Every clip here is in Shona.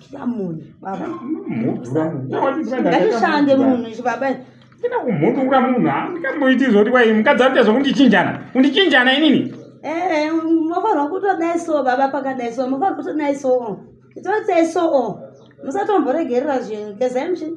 Chikamuni, baba. Mudura munhu. Ndakashande munhu izvi baba. Ndina kumudura munhu. Ndikamuiti zvoti kwai mukadzi ari kuita zvokundichinjana. Kundichinjana inini. Eh, mofanirwa kutodai so baba pakadai so. Mofanirwa kutodai so. Itotsei so. Musatomboregerera zvinhu. Gezai muchini.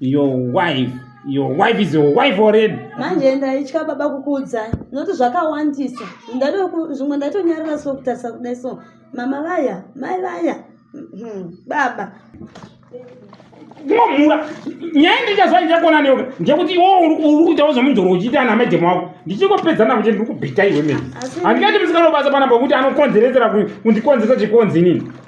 your wife your wife is your wife already manje ndaitya baba kukuudzai noti zvakawandisa zvimwe ndaitonyarira so kutarisa kudai so mama vaya mai vaya hmm, baba kumamhura nyaya ndichazva ndichakona neyoga ndekuti iwo uri kuitawo zvemudhoro uchiita ana maidhemu wako ndichikopedza navo chete ndiri kubhita iwe mene handingati musikanobasa panapa kuti anokonzeredzera kundikonzeresa chikonzi inini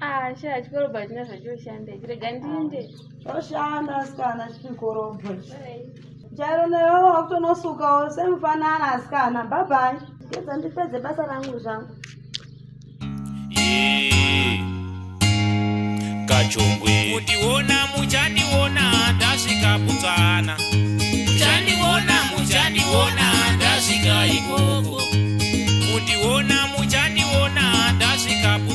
Ah, shaa chikorobho hachina zvachoshanda ichi rega ndiinde choshanda asikana chikorobho chairo newe wakutonosukawo semufanana asikana bhabhai gedza ndipedze basa rangu zvangu kachongwe kundiona muchandiona ndasvika putsana muchandiona muchandiona ndasvika ikoko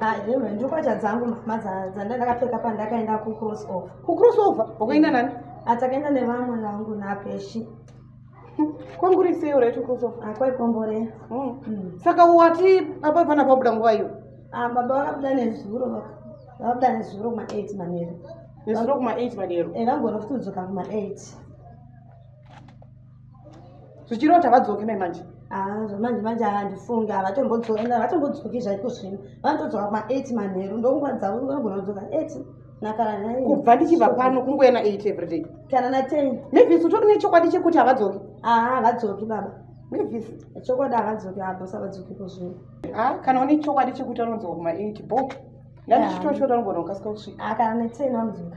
Haewe ndokwacha dzangu mhama dzandakapfeka pandakaenda kucross over. Kucross over? Wakaenda nani? Atakaenda nevamwe vangu napeshi. Kwanguri sei uraiti cross over? Akwai ah, kombore. Hmm. Hmm. Saka wati apa pana pabuda nguva iyo? Ah baba vakabuda nezuro vakabuda nezuro kuma 8 manheru. Nezuro kuma 8 manheru. Eh vangona kutudzoka kuma 8. zvichiroti havadzoki mai manje ah, zvamanje manje handifunge havatombodzokavatombodzwoki zvaiko zvino vanotodzoka kuma8 manheru ndonguva dzavo vanogona kudzoka 8 kubva ndichibva pano kungoena 8 everyday kana na 10 mavis utori nechokwadi chekuti havadzoki aa ah, havadzoki baba mavis chokwadi havadzoki habosa havadzoki kozvino a ah, kana une chokwadi chekuti anodzoka kuma 8 bo ndandichitoshota anogona kukasika kusvika kana na 10 vanodzoka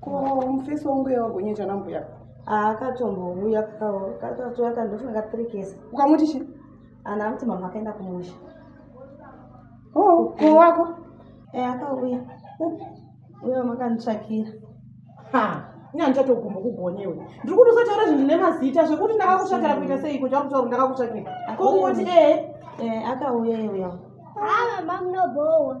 ko mufesi wangu uye wagonyecha nambuya akatombovuya kakatoya kandofunga katirikesa ukamuti chi ana amuti mama akaenda kumusha o oh, ko wako e akauya uye mama akanditsvakira ha ina ndichatogumba kugonewe ndiri kuti usataura zvinhu zvine mazita zvekuti ndakakutsvakira kuita seiko chakutaura ndakakutsvakira ko kungoti ee eh, akauya iuya haa mama munobowa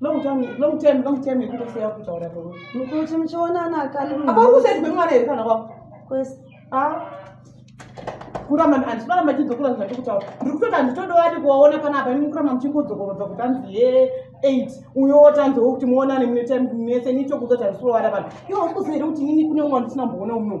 Long time, long time, long time yekuti usiya kutaura kwewe. Mukuti muchionana kani. Apa ukuseti kwemwana here kana kwako? Kwese. Ah. Kurama hanzi kurama chidzokora zvati kutaura. Ndiri kutoda nditoda wati kuwaona kana apa imi kurama muchingodzokorodza kuti hanzi ye 8 uyo wotanzi wokuti muonane mune time mese nicho kuzotanzi kuroara vanhu. Iwo ukuseri kuti nini kune umwe ndisina mboona uno.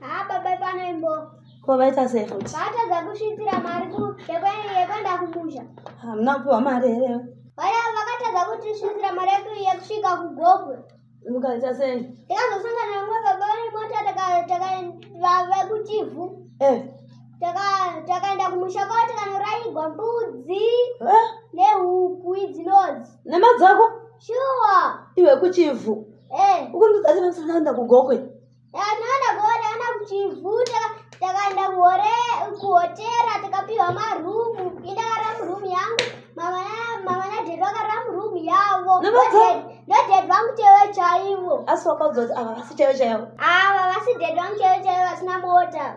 haa baba ipana imbo ko vaita sei futi vaatadza kusvitsira mari yekuenda kumusha hamuna kupiwa mari here vakatadza kuti svisira mari yedu yekusvika kugogwe mukaita sei tikazosangana vamwe baba vane mota vekuchivhu eh. takaenda kumusha kwavo tikanoraigwa mbudzi eh. nehuku idzinodzi nemadzako Shuwa. Iwe kuchivhu. Eh. Ukundiudza kuti msana anda kugokwe. Ndakaenda kuona ana kuchivhu takaenda kuhore kuhotera takapiwa marumu. Indakara murumu yangu. Mama na mama na dad vakara murumu yavo. No dad vangu chewe chaivo. Asi wakaudza kuti ava vasi chewe chaivo. Ava vasi dad vangu chewe chaivo vasina mota.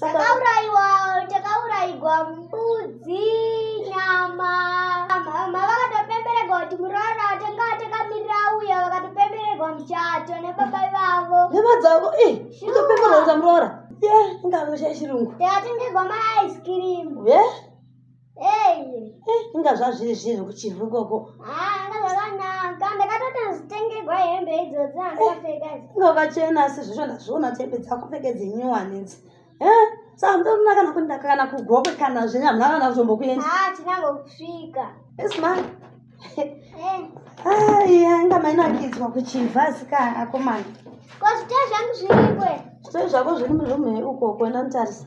takauraiwa takauraigwa mbudzi nyama mama vakatopemberegwa kuti muroora tanga takamirira uya vakatopemberegwa muchato nebaba ivavo hema dzavo i kutopemberedza muroora ye ingavesha yechirungu takatengegwa maaiskirimu ye yeah? inga zvazviri zviri kuchivhu ikoko inga vachena asi zvezvo ndazviona kuti hembe dzakupfeke dzenyuwani idzi sandoona kana kuti ndakakana kugokwe kana zvenya muna kana kutombokuendatinangosvika aiya inga mainakidzwa kuchivhu asi ka akomana ko zvitee zvangu zvirikwe zvitee zvako zviri murumhe ukoko enda mutarisa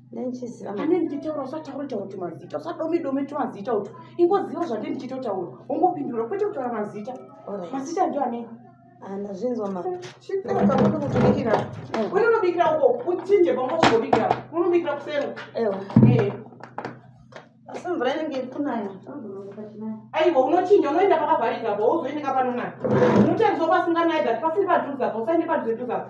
ane ndichitaura usataure taura kuti mazita usadome dome ti mazita uti ingoziva zvande ndichitotaura ungopindura kwete kutaura mazita mazita ndio ane anazvinzwamachiaaunotoikira une unobikira uko uchinje pamwe chikobikira unobikira kusero asi mvura inenge ikunaya aiwa unochinja unoenda pakavharika po uzoendeka panonaya unotariswa pasinganayi that pasiri padhuzapo usaende padhuze dhuzapo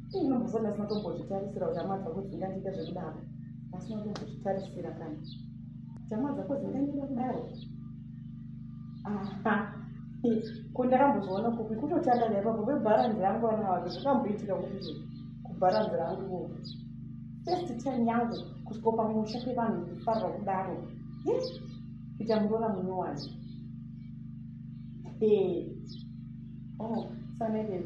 Ndinombofona ndasina tombozvitarisira kuti hama dzako dzingandiita zvekudaro. Ndasina tombozvitarisira kana. Kuti hama dzako dzingandiita kudaro. Aha. Ko ndakambozviona kupi kutotanga naipapo vebharanzi rangu vana vake zvakamboitika kuti kubharanzi rangu ko. First time yangu kusviko pamusha pevanhu kufarwa kudaro. Yes. Kuita muroora munyowani. Hey. Oh, sanekei.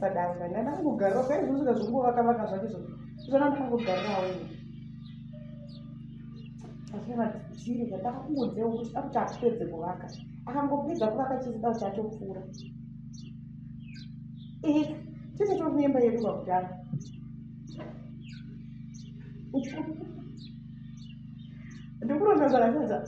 sadanga ndada kungogarira kaizvozvika zvingovakavaka zvake zvo zvana ndakangogarirawo asinamadziri ndataka kungonzeo kuti akuti akupedze kuvaka akangopedza kuvaka chizida kuti atopfuura ee tese tokunemba yedu vakudaro Ndikurota zvakashadza.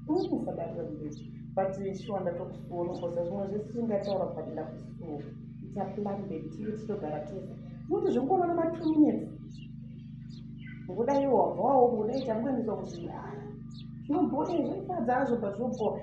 Ukufa dada mbeji. But shuwa ndatokusuona kosa zvimwe zvese zvingataura but ndakusuwa. It's a plan baby tiri titogara tese. Kuti zvingoona na 2 minutes. Ngoda iwo wabvawo ngoda itamwe ndizokuzvira. Zvinoboda izvo ifadza azvo but zvoboda.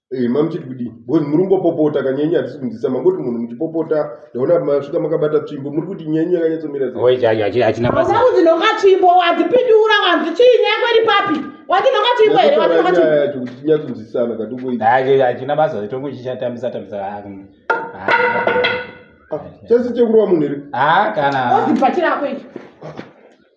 Eh, ma muchiti kudii because muri kungopopota ka nyenye hatisi kunzisa mangoti munhu muchipopota ndaona masvika makabata tsvimbo muri kuti nyenye yakanyatsomira sei Wait, hachi- hachi- hachina basa Hauda kuti nhonga tsvimbo wadzipindura wanzi chii nyaya yako iri papi wati nhonga tsvimbo here wati nhonga tsvimbo yacho kuti tinyatsonzisana katongoita Hachi- hachina basa tongo chichatambisa tambisa Ah, mm. Ah, chese chekurova munhu here ah kana Ozi bhachi rako iri.